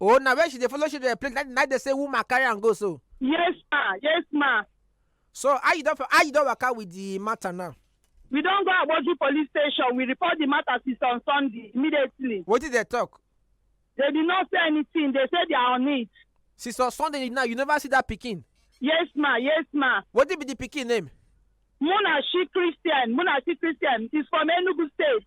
oh na where she dey follow children play na na dey say woman carry am go so yes ma yes ma so how you don for how you don waka with the matter now we don go agboju police station we report the matter since on sunday immediately wetin dey talk they did not say anything they say they are on it since on sunday now you never see that pikin yes ma yes ma wetin be the pikin name munashi christian munashi christian is from enugu state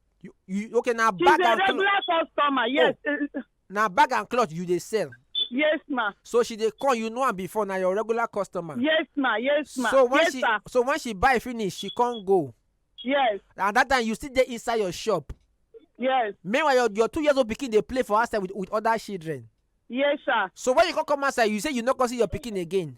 you you okay na she's bag a and cloth regular customer yes eh, na bag and cloth you dey sell yes ma so she dey come you know am before na your regular customer. yes ma yes ma so when yes she sir so when she buy finish she come go yes and that time you still dey inside your shop yes meanwhile your your two years old pikin dey play for outside with with other children yes sir so when you come come outside you say you no come see your pikin again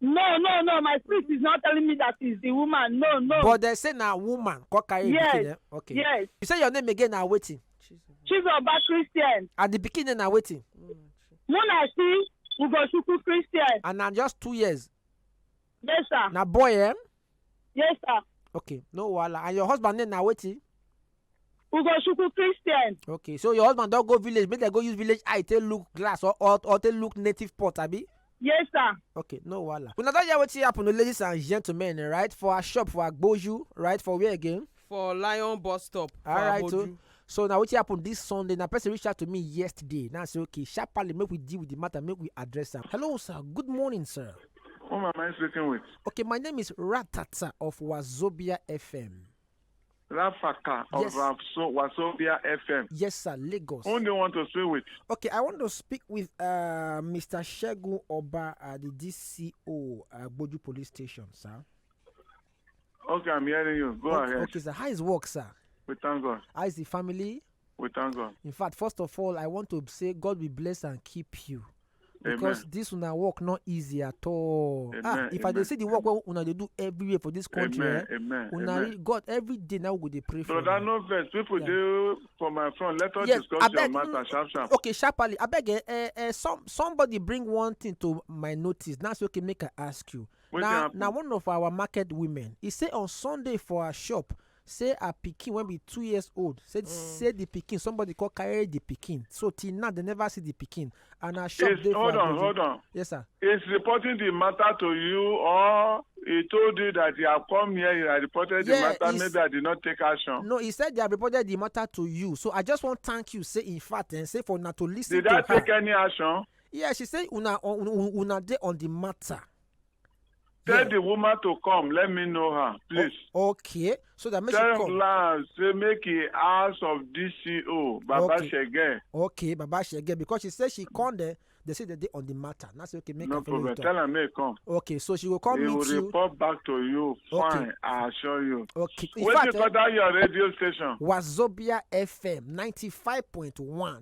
No, no, no. My spirit is not telling me that it's the woman. No, no. But they say na woman come carry yes. pikin. Eh? Okay. Yes. You say your name again na wetin? Chizoba Christian. And the pikin name na wetin? Munasi Ugochukwu Christian. And na just two years. Yes, sir. Na boy, eh? Yes, sir. okay no wahala and your husband name na wetin Ugochukwu Christian. okay so your husband don go village make dem go use village eye take look glass or or or take look native pot abi. Yes, sir. okay no wahala una don hear wetin happen o ladies and gentlemen right for our shop for agboju right for where again. for lion bus stop for alright so aboju so na wetin happen this sunday na person reach out to me yesterday now i say okay sharparly make we deal with the matter make we address am hello sir good morning sir Whom am I speaking with? okay my name is ratata of wazobia fm Rafaka of Yes. Wafso- Wasobia FM. yes sir lagos Whom do you want to speak with? okay i want to speak with uh, mr segun oba uh, the dco uh, gboju police station sir Okay, I'm hearing you. Go okay, ahead. Okay, sir. How is work, sir? We thank God. How is the family? We thank God. In fact, first of all, I want to say God will bless and keep you. because Amen. this una work not easy at all ah, Amen. ah if Amen. i dey see the work wey una dey do everywhere for this country Amen. Eh, Amen. una Amen. god every day now go dey pray for brother no vex people yeah. dey for my front let us yes, discuss abeg, your matter mm, sharp sharp okay sharply abeg eh, eh, eh, some, somebody bring one thing to my notice now say okay make i ask you Wetin Na happen? na one of our market women, e say on Sunday for her shop say her pikin wey be two years old say say the pikin somebody come carry the pikin so till now they never see the pikin and her shop It's, dey for hold on, Agodi. hold on. Yes sir. Is reporting the matter to you or he told you that he have come here, he had reported Yeah, the matter, he's- maybe I did not take action. No, he said they have reported the matter to you. So I just want thank you. Say in fact, and say for now to listen Did to I her. take any action? Yeah, she say una un- un- una dey on the matter. Tell Yeah. the woman to come. Let me know her, please. Okay, so that make she Tell come. Lance say make he house of DCO Baba Okay. Shege. Okay, Baba Shege, because she say she come there, they say they dey on the matter. Now say okay, make No her follow you problem. talk. Tell her make he come. Okay, so she go come he will meet you. report back to you. Okay. Fine, I assure you. Okay, in Wait fact, till eh, that your radio station. Wazobia FM ninety five point one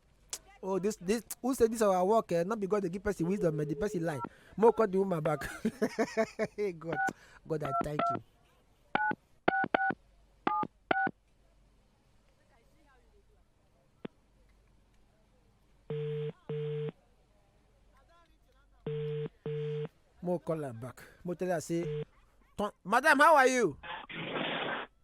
oh this this who say this our work eh no be god dey give person wisdom eh the person lie mo call the woman back hey god god i thank you. mo call am back mo tell her say "Turn- madam how are you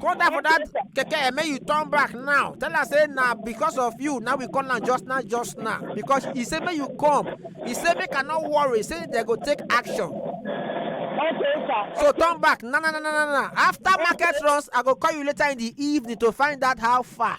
Go down for that keke and make you turn back now. Tell her say na because of you now we come am just now just now because he say make you come. He say make I no worry say they go take action. Okay, sir. So turn back. Na na na na na na. After market runs, I go call you later in the evening to find out how far.